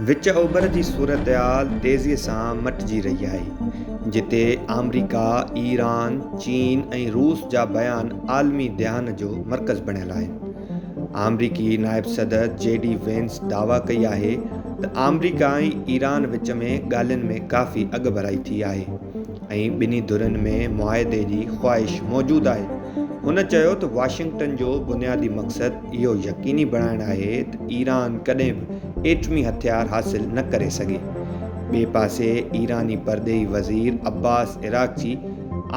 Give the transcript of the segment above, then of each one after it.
وچ اوڀر جي صورتحال تيزي سان مٽجي رهي آهي، جتي آمريڪا، ايران، چين ۽ روس جا بيان عالمي ڌيان جو مرڪز بڻيل آهن. آمريڪي نائب صدر جي ڊي وينس دعويٰ ڪئي آهي ته آمريڪا ۽ ايران وچ ۾ ڳالهين ۾ ڪافي اڳڀرائي ٿي آهي ۽ ٻنهي ڌرين ۾ معاهدي جي خواهش موجود آهي. هن چيو ته واشنگٽن جو بنيادي مقصد اهو يقيني بڻائڻ آهي ته ايران ڪڏهن به ايٽمي هٿيار حاصل نه ڪري سگهي. ٻئي پاسي ايراني پرڏيهي وزير عباس عراقچي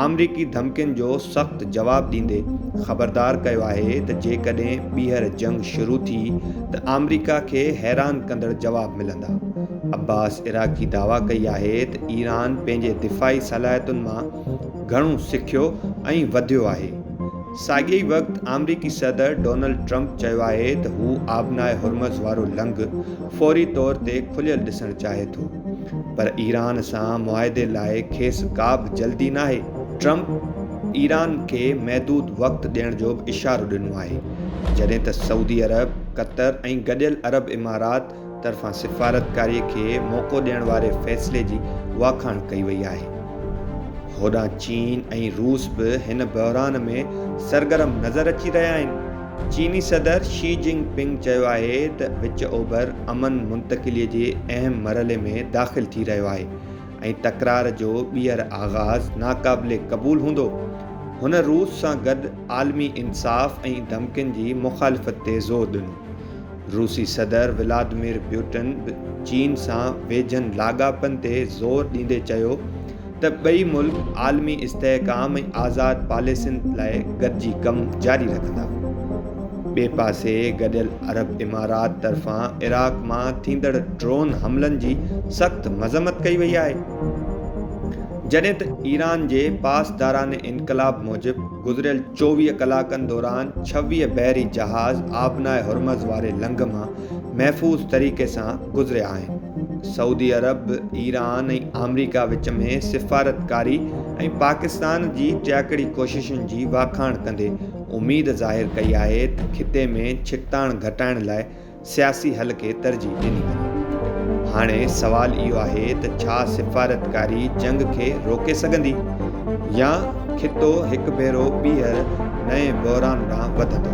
آمريڪي ڌمڪين جو سخت جواب ڏيندي خبردار ڪيو آهي ته جيڪڏهن ٻيهر جنگ شروع ٿي ته آمريڪا کي حيران ڪندڙ جواب ملندا. عباس عراقچي دعويٰ ڪئي آهي ته ايران پنهنجي دفاعي صلاحيتن مان گهڻو سکيو ۽ وڌيو آهي. ساڳئي ئي وقت آمريڪي صدر ڊونلڊ ٽرمپ چيو آهي ته هو آبناء هرمز وارو لنگهه فوري طور تي کليل ڏسڻ چاهي ٿو پر ايران سان معاهدي لاء کيس ڪا به جلدي ناهي. ٽرمپ ايران کي محدود وقت ڏيڻ جو به اشارو ڏنو آهي جڏهن ته سعودي عرب، قطر ۽ گڏيل عرب امارات طرفان سفارتڪاري کي موقعو ڏيڻ واري فيصلي جي واکاڻ ڪئي وئي آهي. هوڏانهن چين ۽ روس به هن بحران ۾ سرگرم نظر اچي رهيا آهن. چيني صدر شي جن پنگ چيو آهي ته وچ اوڀر امن منتقلي جي اهم مرحلي ۾ داخل ٿي رهيو آهي ۽ تڪرار جو ٻيهر آغاز ناقابل قبول هوندو. هن روس سان گڏ عالمي انصاف ۽ ڌمڪين جي مخالفت تي زور ڏنو. روسي صدر ولادمير پيوٽن به چين سان ويجهن لاڳاپن تي زور ڏيندي چيو ته ٻئي ملڪ عالمي استحڪام ۽ آزاد پاليسين لاء گڏجي ڪم جاري رکندا. ٻئي پاسي گڏيل عرب امارات طرفان عراق مان ٿيندڙ ڊرون حملن جي سخت مذمت ڪئي وئي آهي جڏهن ته ايران جي پاسداران انقلاب موجب گذريل چوويهه ڪلاڪن دوران ڇويهه بحري جهاز آبناء هرمز واري لنگهه مان محفوظ طريقي سان گذريا آهن. سعودي عرب، ايران ۽ آمريڪا وچ ۾ سفارتڪاري ۽ پاڪستان جي ٽياڪڙي ڪوششن جي واکاڻ ڪندي اميد ظاهر ڪئي آهي ته خطي ۾ ڇڪتاڻ گهٽائڻ لاء سياسي حل کي ترجيح ڏني وڃي. هاڻي سوال اهو آهي ته ڇا سفارتڪاري جنگ کي روڪي سگهندي يا خطو هڪ ڀيرو ٻيهر نئين بحران ڏانهن وڌندو؟